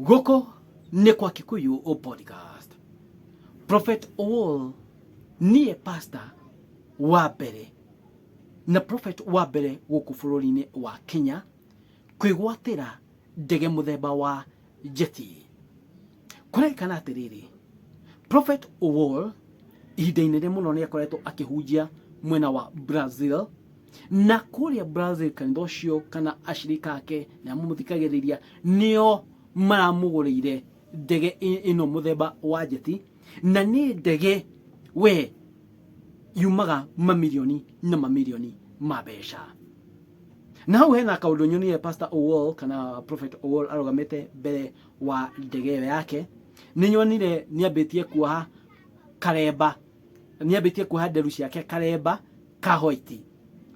gũkũ nĩ kwa kikuyu o podcast prophet owol niĩ pastor wa mbere na prophet wa mbere gũkũ bũrũri-inĩ wa kenya kwĩgwatĩra ndege mũthemba wa jeti kũraikana atĩrĩrĩ prophet wall ihinda inene mũno nĩ akoretwo akĩhunjia mwena wa brazil na kũrĩa brazil kanitha ũcio kana ashirika ake na mamũthikagĩrĩria nĩo maramũgũrĩire ndege ĩ- ĩno mũthemba wa njeti na nĩ ndege we yumaga mamirioni na mamirioni ma mbeca na hau hena kaundu nyonire pastor owol kana prophet owol arugamite mbere wa ndege ĩyo yake nĩ nyonire nĩ ambĩtie kuoha karemba nĩ ambĩtie kuoha nderu ciake karemba ka white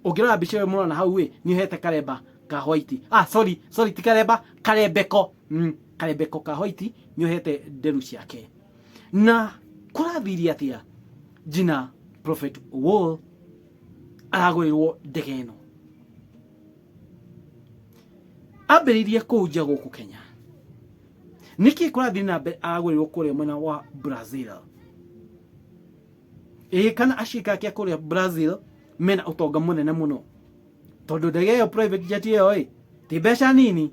ũngĩrora mbica ĩyo mũrona hau ĩ nĩ ohete karemba ka white ah sorry sorry ti karemba karembeko mm, karembeko ka white nĩ ohete nderu ciake na kũrathiria atĩa jina prophet wall aragũrĩrwo ndege ĩno ambĩrĩirie kũu nja gũkũ kenya nĩkĩ kũrathiĩ na mbere agũrĩrwo kũrĩa mwena wa brazil ĩĩ kana acika ake kũrĩa brazil mena ũtonga mũnene mũno tondũ ndege ĩyo private jet ĩyo ĩ ti mbeca nini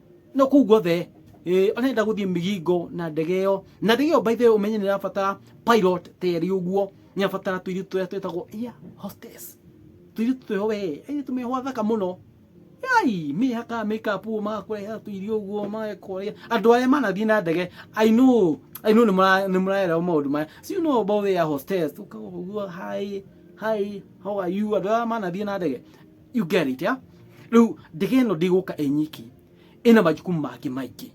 no kuu guothe eh, ona enda guthii migingo na ndege iyo na ndege iyo by the way umenye ni rabatara pilot teri uguo ni abatara tuiri tuya twetagwo iya hostess tuiri tuyo we ai tumehwa thaka muno ai mihaka makeup magakureha tuirio guo magakureha andu aria manathii na ndege i know i know ni muraera maundu maya so you know about their hostess ukaguo hi hi how are you andu aria manathii na ndege you get it yeah? rĩu ndege ĩno ndĩgũka ĩ nyiki ĩna majukumu mangĩ maingĩ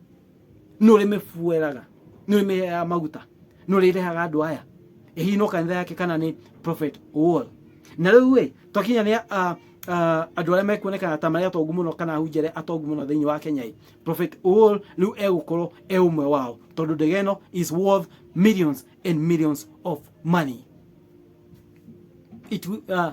nĩ ũrĩ mĩbueraga nĩ ũrĩ mĩheaga maguta nĩ ũrĩ rehaga andũ aya hihi no kanitha yake kana nĩ prophet wall na rĩu ĩ twakinya nĩ ah, ah, andũ arĩa mekuonekana ta marĩa atongu mũno kana ahunjia arĩa atongu mũno thĩinĩ wa kenya ĩ prophet wall rĩu egũkorwo e ũmwe wao tondũ ndege ĩno is worth millions and millions of money it will, uh,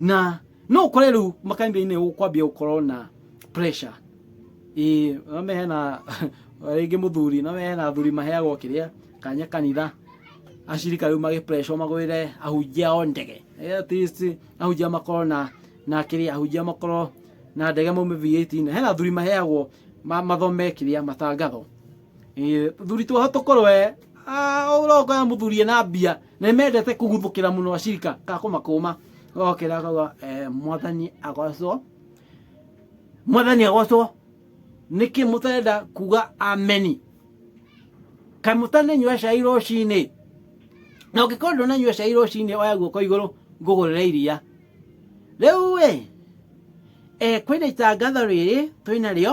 na no kore riu makanitha-inĩ kwambia gukorwo na pressure ii ame hena ringi muthuri na hena athuri maheagwo kiria kanya kanitha ashirika riu magi pressure magwire ahunjia o ndege Eh, at least ahunjia makorwo na na kiria ahunjia makorwo na ndege maume V18 hena athuri maheagwo ma- mathome kiria matangatho Ĩĩ, thuri twaho tũkorwe ũroka mũthuri ena mbia Nĩ mendete kũguthũkĩra mũno acirika ka kũmakũma gokĩra akauga eh, mwathani agocwo mwathani agocwo nĩkĩ mũtarenda kuga ameni kaĩ mũtananyua cai rũcinĩ na ũngĩkorwo ndũnanyua cai rũcinĩ oya guoko igũrũ ngũgũrĩre iria rĩu ĩ eh, kwĩna itangatho rĩrĩ twĩna rĩo